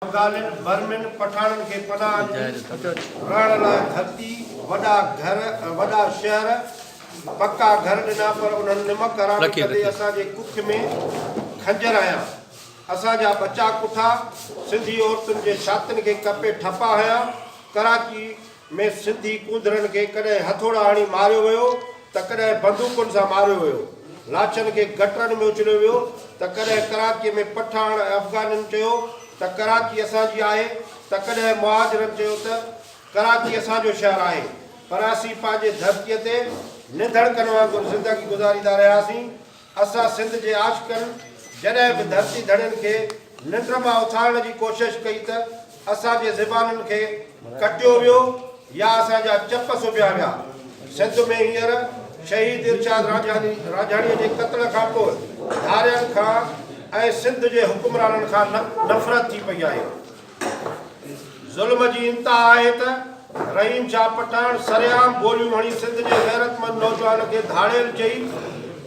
افغانن، برمن، پٺاڻن کي پناهه ڏني، رهڻ لاء ڌرتي، وڏا گهر ۽ وڏا شهر، پڪا گهر ڏنا پر انهن نمڪ حرام ڪندي اسان جي ڪک ۾ خنجر هنيا. اسان جا ٻچا ڪٺا، سنڌي عورتن جي ڇاتين کي ڪپي ٺپا هنيا. ڪراچي. ۾ سنڌي ڪونڌرن کي ڪڏهن هٿوڙا هڻي ماريو ويو ته ڪڏهن بندوقن سان ماريو ويو. لاڇن کي گٽرن ۾ اڇليو ويو ته ڪڏهن ڪراچيء ۾ پٺاڻ ۽ افغانين چيو ته ڪراچي اسان جي آهي ته ڪڏهن مهاجرن چيو ته ڪراچي اسان جو شهر آهي پر اسين پنهنجي ڌرتيء تي ننڌڻڪن وانگر زندگي گذاريندا رهياسين. اسان سنڌ جي عاشقن جڏهن به ڌرتي ڌڻين کي ننڊ مان اٿارڻ جي ڪوشش ڪئي ته اسان جي زبانن کي ڪٽيو ويو يا اسان جا چپ سبيا ويا. سنڌ ۾ هينئر شهيد ارشاد رانجهاني رانجهاڻيء جي قتل کان پوء ڌارين کان ۽ سنڌ جي حڪمرانن کان نفرت ٿي پئي آهي. ظلم جي انتها آهي ته رحيم شاهه پٺاڻ سرعام گوليون هڻي سنڌ جي غيرتمند نوجوان کي ڌاڙيل چئي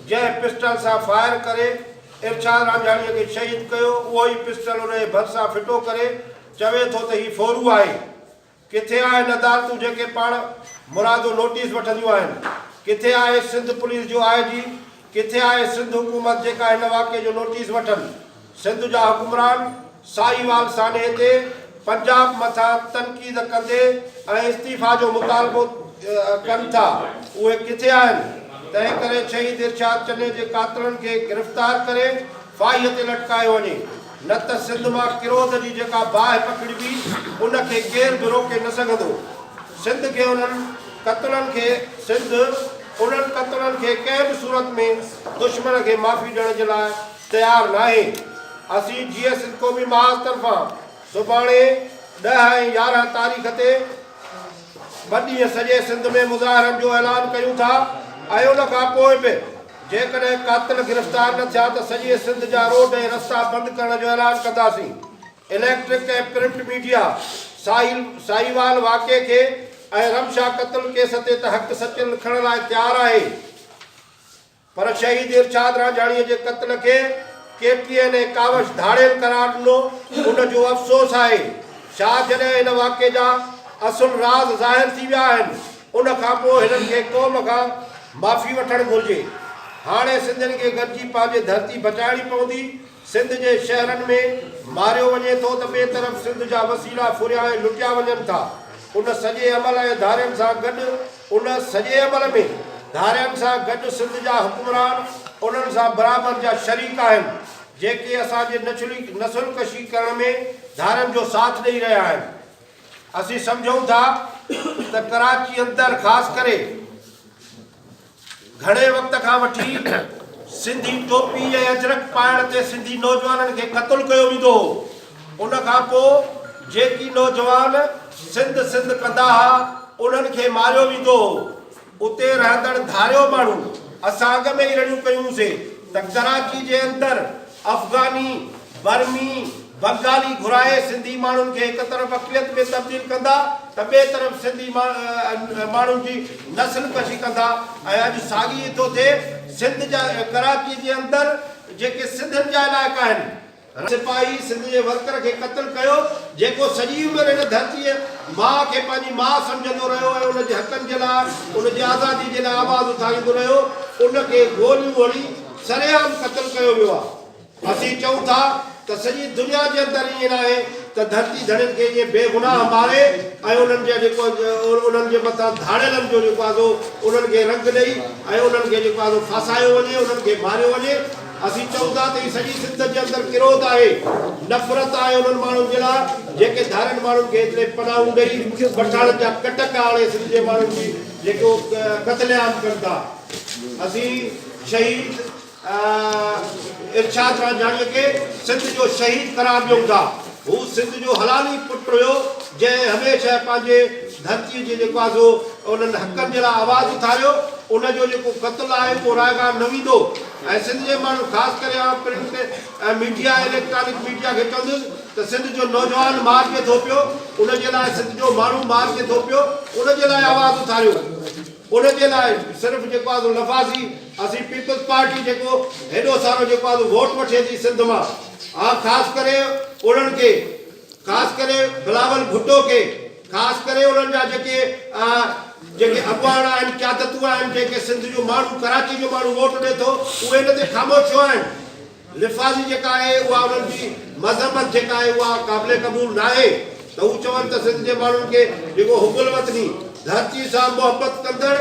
جنهن پسٽل سان فائر ڪري ارشاد رانجهاڻي کي شهيد ڪيو اهو ئي پسٽل ان جي ڀرسان ڦٽو ڪري چوي ٿو ته هي ڦورو آهي ڪٿي آهن عدالتون جيڪي پاڻ مرادو نوٽيس وٺنديون آهن، ڪٿي آهي سنڌ پوليس جو آء جي، ڪٿي آهي سنڌ حڪومت جيڪا هن واقعي جو نوٽيس وٺن، سنڌ جا حڪمران ساهيوال سانحي تي پنجاب مٿان تنقيد ڪندي ۽ استعيفا جو مطالبو ڪن ٿا اهي ڪٿي آهن، تنهن ڪري شهيد ارشاد چني جي قاتلن کي گرفتار ڪري ڦاهيء تي لٽڪايو وڃي. نه ته سنڌ مان ڪروڌ جي جيڪا باهه پکڙبي ان کي ڪير به روڪي نه سگهندو. سنڌ کي انهن قتلن کي سنڌ انهن قتلن کي ڪنهن به صورت ۾ دشمن کي معافي ڏيڻ جي لاء تيار ناهي. اسين جيئي سنڌ قومي محاذ طرفان سڀاڻي ڏهه ۽ يارهن تاريخ تي ٻه ڏينهن سڄي سنڌ ۾ مظاهرن جو اعلان ڪيون ٿا ۽ ان کان پوء به جيڪڏهن قاتل گرفتار نه ٿيا ته سڄي سنڌ جا روڊ ۽ رستا بند ڪرڻ جو اعلان ڪنداسين، اليڪٽرڪ ۽ پرنٽ ميڊيا ساحل ساهيوال واقعي کي ۽ رمشا قتل ڪيس تي ته حق سچ لکڻ لاء تيار آهي پر شهيد ارشاد رانجهاڻي جي قتل کي ڪي ٽي اين ۽ ڪاوش ڌاڙيل قرار ڏنو ان جو افسوس آهي شاهه جڏهن هن واقعي جا اصل راز ظاهر ٿي ويا آهن. ان کان پوء هنن کي قوم کان معافي وٺڻ گهرجي. هاڻي سنڌين کي گڏجي پنهنجي ڌرتي بچائڻي پوندي. سنڌ جي شهرن ۾ ماريو وڃي ٿو ته ٻئي طرف سنڌ جا وسيلا ڦريا ۽ لٽيا وڃن ٿا. ان سڄي عمل ۽ ڌارين سان گڏ ان سڄي عمل ۾ ڌارين سان گڏ سنڌ جا حڪمران انهن سان برابر جا شريڪ آهن جيڪي اسان جي نسل ڪشي ڪرڻ ۾ ڌارين جو ساٿ ڏئي رهيا آهن. اسين سمجهون ٿا ته ڪراچي اندر خاص ڪري گهڻي وقت کان وٺي سنڌي ٽوپي ۽ اجرڪ پائڻ تي سنڌي نوجوانن کي قتل ڪيو ويندو هو ان کان پوء جيڪي نوجوان سنڌ سنڌ ڪندا ها انهن کي ماريو ويندو هو اتي رهندڙ ڌاريو ماڻهو اسان اڳ ۾ ئي رڙيون ڪيون سي ته ڪراچي جي اندر افغاني، برمي، بنگالي گهرائي سنڌي ماڻهن کي هڪ طرف اقليت ۾ تبديل ڪندا ته ٻئي طرف سنڌي ماڻهن جي نسل ڪشي ڪندا ۽ اڄ ساڳي ئي ٿو ٿئي سنڌ جا ڪراچي جي اندر جيڪي سنڌين جا علائقا آهن. سپاهي سنڌ جي ورڪر کي قتل ڪيو، جيڪو سڄي عمر هن ڌرتيء ماء کي پنهنجي ماء سمجهندو رهيو ۽ ان جي حقن جي لاء، ان جي آزاديء جي لاء آواز اٿاريندو رهيو، ان کي گوليون هڻي سرعام قتل ڪيو ويو آهي. اسين چئون ٿا ته سڄي دنيا جي اندر ائين ناهي ته ڌرتي ڌڻين کي ائين بي گناهه ماري ۽ انهن جا جيڪو انهن جي مٿان ڌاڙيلن جو جيڪو آهي سو انهن کي رنگ ڏئي ۽ انهن کي جيڪو آهي سو ڦاسايو وڃي، انهن کي ماريو وڃي. اسين چئون ٿا ته هي سڄي سنڌ جي اندر ڪروڌ آهي، نفرت آهي انهن ماڻهن جي لاء جيڪي ڌارين ماڻهن کي هيتري پناهون ڏئي پٺاڻن جا ڪٽڪ آڻي سنڌ جي ماڻهن جي جيڪو قتل عام ڪن ٿا. اسين شهيد ارشاد رانجهاڻي کي سنڌ جو شهيد قرار ڏيون ٿا. هو سنڌ جو حلال ئي پٽ هيو جنهن هميشه پنهنجي ڌرتي جي جيڪو آهي سو انهن حقن جي لاء آواز اٿاريو. ان جو جيڪو قتل آهي اهو رائگان نه ويندو. ۽ سنڌ جي ماڻهن خاص ڪري آئون پرنٽ ۽ ميڊيا ۽ اليڪٽرانڪ ميڊيا کي چوندس ته سنڌ جو نوجوان مار ڪي ٿو پيو ان جي لاء سنڌ جو ماڻهو مار ڪي ٿو پيو ان جي لاء آواز اٿاريو ان جي لاء صرف جيڪو آ سو لفاظي اسين پيپلز پارٽي جيڪو هيڏو سارو جيڪو آ سو ووٽ وٺي ٿي سنڌ مان آ خاص ڪري انهن کي خاص ڪري بلاول ڀٽو کي خاص ڪري انهن جا جيڪي جيڪي اڳواڻ آهن قيادتون آهن جنهن کي سنڌ جو ماڻهو ڪراچي جو ماڻهو ووٽ ڏي ٿو اهي ان تي خاموش ڇو آهن لفاظي جيڪا آهي اها انهن جي مذمت جيڪا آهي اها قابل قبول ناهي ته هو چون ته سنڌ جي ماڻهن کي جيڪو حب الوطني ڌرتي سان محبت ڪندڙ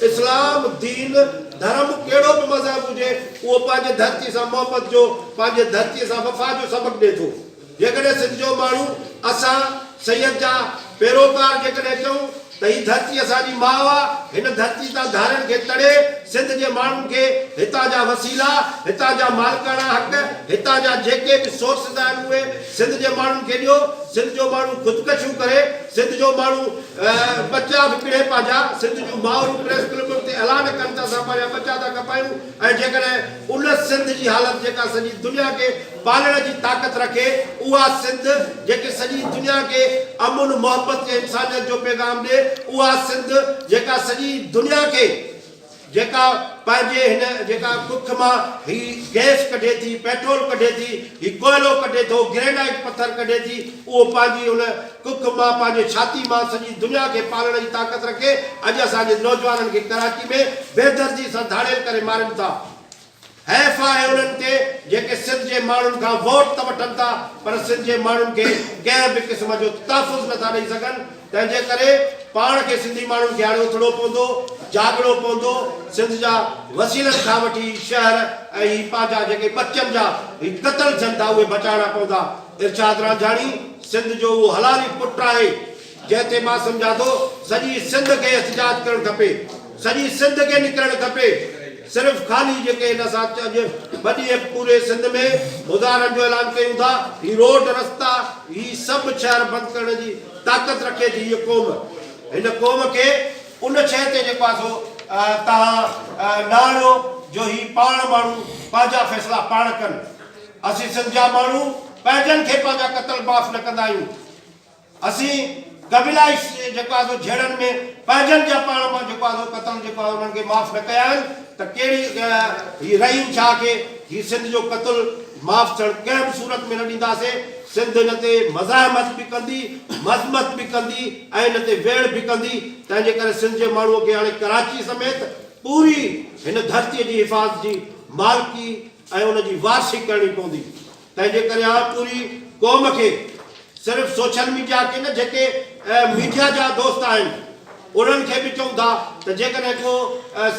اسلام دين ڌرم ڪهڙو به مذهب هجي اهو پنهنجي ڌرتي سان محبت جو پنهنجي ڌرتي سان وفا جو سبق ڏي ٿو. جيڪڏهن سنڌ جو ماڻهو اسان سيد جا پيروڪار جيڪڏهن چئون ته هي ڌرتي اسان جي ماء آ، هن ڌرتي تان ڌارين کي تڙي سنڌ جي ماڻهن کي هتان جا وسيلا، هتان جا مالڪاڻا حق، هتان جا جيڪي به سورسز آهن اهي سنڌ جي ماڻهن کي ڏيو، سنڌ جو ماڻهو خودڪشيون ڪري، سنڌ جو ماڻهو ٻچا به پڙهي پنهنجا، سنڌ جون مائرون پريس ڪلبن تي اعلان ڪن ته اسان پنهنجا ٻچا ٿا کپايون ۽ جيڪڏهن ان سنڌ جي حالت جيڪا سڄي دنيا کي پالڻ جي طاقت رکي، اها سنڌ جيڪي سڄي دنيا کي امن، محبت ۽ انسانيت جو پيغام ڏي، اها سنڌ جيڪا سڄي دنيا کي جيڪا پنهنجي هن جيڪا ڪک مان هي گئس ڪڍي ٿي، پيٽرول ڪڍي ٿي، هي ڪوئلو ڪڍي ٿو، گرينائيٽ پٿر ڪڍي ٿي، اهو پنهنجي ان ڪک مان پنهنجي ڇاتي مان سڄي دنيا کي پالڻ جي طاقت رکي، اڄ اسان جي نوجوانن کي ڪراچي ۾ بيدردي سان ڌاڙيل ڪري مارين ٿا. حيف آهي انهن تي جيڪي سنڌ جي ماڻهن کان ووٽ ته وٺن ٿا پر سنڌ جي ماڻهن کي ڪنهن به قسم جو تحفظ نه ٿا ڏئي سگهن تنهن جي ڪري پاڻ کي سنڌي ماڻهن کي هاڻي اٿڻو پوندو جاڳڻو پوندو سنڌ جا وسيلن کان وٺي هي شهر ۽ هي پنهنجا جيڪي ٻچن جا هي قتل ٿين ٿا اهي بچائڻا پوندا ارشاد رانجهاڻي سنڌ جو اهو حلالي پٽ آهي. جنهن تي مان سمجهان ٿو سڄي سنڌ کي احتجاج ڪرڻ کپي سڄي سنڌ کي نڪرڻ کپي صرف خالي جيڪي هن اسان اڄ ٻه ڏينهن پوري سنڌ ۾ مظاهرن جو اعلان ڪيون ٿا هي روڊ رستا هي سڀ شهر بند ڪرڻ جي طاقت رکي ٿي هيء قوم هن قوم کي ان شيء تي جيڪو آهي سو توهان نه آڻيو جو هي پاڻ ماڻهو پنهنجا فيصلا پاڻ ڪن اسين سنڌ جا ماڻهو پنهنجن کي پنهنجا قتل معاف نه ڪندا آهيون. اسين قبيلائي جيڪو آهي سو جهيڙن ۾ پنهنجن جا پاڻ مان جيڪو آهي سو قتل جيڪو آهي انهن کي معاف نه ڪيا آهن ته ڪهڙي هي رحيم شاهه کي هي سنڌ جو قتل معاف ٿيڻ ڪنهن به صورت ۾ نه ڏينداسين سنڌ هن تي مزاحمت به ڪندي مذمت به ڪندي ۽ هن تي ويڙهه به ڪندي تنهن جي ڪري سنڌ جي ماڻهو کي هاڻي ڪراچي سميت پوري هن ڌرتي جي حفاظت جي مالڪي ۽ ان جي وارثي ڪرڻي پوندي. تنهن جي ڪري آء پوري قوم کي صرف سوشل ميڊيا کي نه جيڪي ميڊيا جا دوست آهن انهن کي به چئون ٿا ته جيڪڏهن ڪو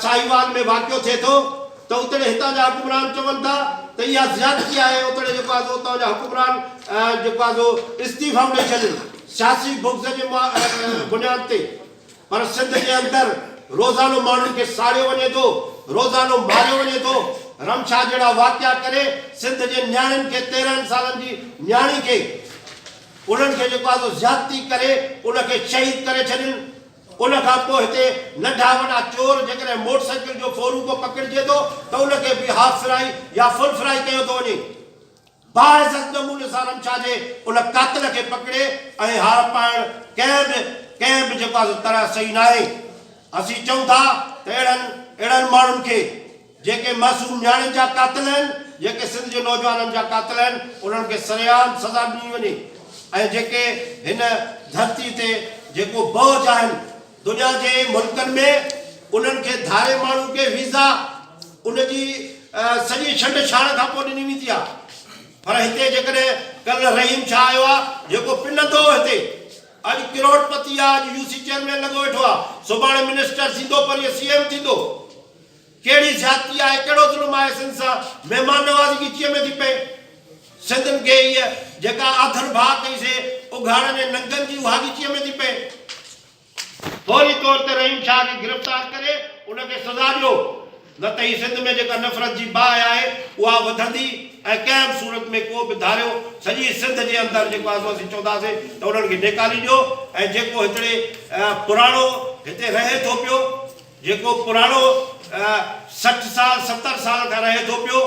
ساهيوال ۾ واقعو ٿئي ٿو ته اتڙي هتان جا حڪمران چون ٿا ته اها زيادتي آهي اتڙي جيڪو آهي سو اتان جا حڪمران جيڪو آهي سو استعيفائون ڏئي ڇڏين سياسي بغض جي بنياد تي. پر سنڌ جي اندر روزانو ماڻهن کي ساڙيو وڃي ٿو، روزانو ماريو وڃي ٿو، رمشا جهڙا واقعا ڪري سنڌ جي نياڻين کي تيرنهن سالن جي نياڻي کي انهن کي جيڪو آهي سو زيادتي ڪري ان کي شهيد ڪري ڇڏين ان کان پوء هتي ننڍا وڏا چور جيڪڏهن موٽر سائيڪل جو ڦورو ڪو پڪڙجي ٿو ته ان کي به هاف فرائي يا فل فرائي ڪيو ٿو وڃي. باعزت نموني سان رمشا جي ان قاتل کي پڪڙي ۽ هار پائڻ ڪنهن به ڪنهن به جيڪو آهي سو طرح صحيح ناهي. اسين چئون ٿا ته اهڙن اهڙن ماڻهن کي جيڪي معصوم نياڻين جا قاتل آهن، جيڪي سنڌ جي نوجوانن جا قاتل آهن انهن کي سرعام سزا ڏني وڃي ۽ جيڪي هن ڌرتي تي جيڪو بوج آهن، دنيا جي ملڪن ۾ انهن کي ڌاري ماڻهو کي ويزا ان جي سڄي ڇنڊ ڇاڻ کان پوء ڏني ويندي آهي پر هتي جيڪڏهن ڪل رحيم شاهه آيو آهي جيڪو پنندو هو هتي اڄ ڪروڙ پتي آهي اڄ يو سي چيئرمين لڳو ويٺو آهي سڀاڻي منسٽر ٿيندو پرينء سي ايم ٿيندو ڪهڙي زيادتي آهي ڪهڙو ظلم آهي سنڌ سان مهمان نوازي جي چيء ۾ ٿي پئي سنڌين کي هيء جيڪا آڌر ڀاء ڪئي سي اگهاڙن ۽ ننگن جي اهاڳچيء ۾ ٿي پئي. فوري طور تي رحيم شاهه کي گرفتار ڪري ان کي سزا ڏيو نه ته هي سنڌ ۾ جيڪا نفرت جي باهه آهي اها وڌندي ۽ ڪنهن به صورت ۾ ڪو به ڌاريو سڄي سنڌ جي اندر جيڪو آزو اسين چونداسين ته انهن کي نيڪالي ڏيو ۽ جيڪو هتڙي پراڻو هتي رهي ٿو پيو جيڪو پراڻو سٺ سال ستر سال کان رهي ٿو پيو،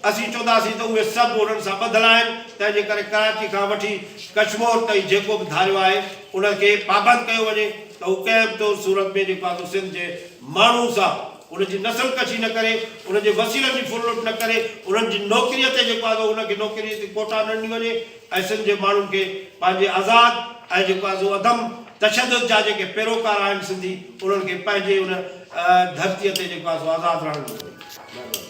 اسين چونداسين ته اهي سڀ انهن سان ٻڌل آهن، تنهن جي ڪري ڪراچي کان وٺي ڪشمور تائين جيڪو به ڌاريو آهي ان کي پابند ڪيو وڃي ته هو ڪنهن به طور صورت ۾ جيڪو آهي سو سنڌ جي ماڻهن سان ان جي نسل ڪشي نه ڪري، ان جي وسيلن جي ڦر لٽ نه ڪري، انهن جي نوڪريء تي جيڪو آهي سو ان کي نوڪريء تي ڪوٽا نه ڏني وڃي. ۽ سنڌ جي ماڻهن کي پنهنجي آزاد ۽ جيڪو آهي سو عدم تشدد جا جيڪي پيروڪار آهن سنڌي انهن کي پنهنجي ان ڌرتيء تي جيڪو آهي سو آزاد رهڻ ڏنو وڃي. مهرباني.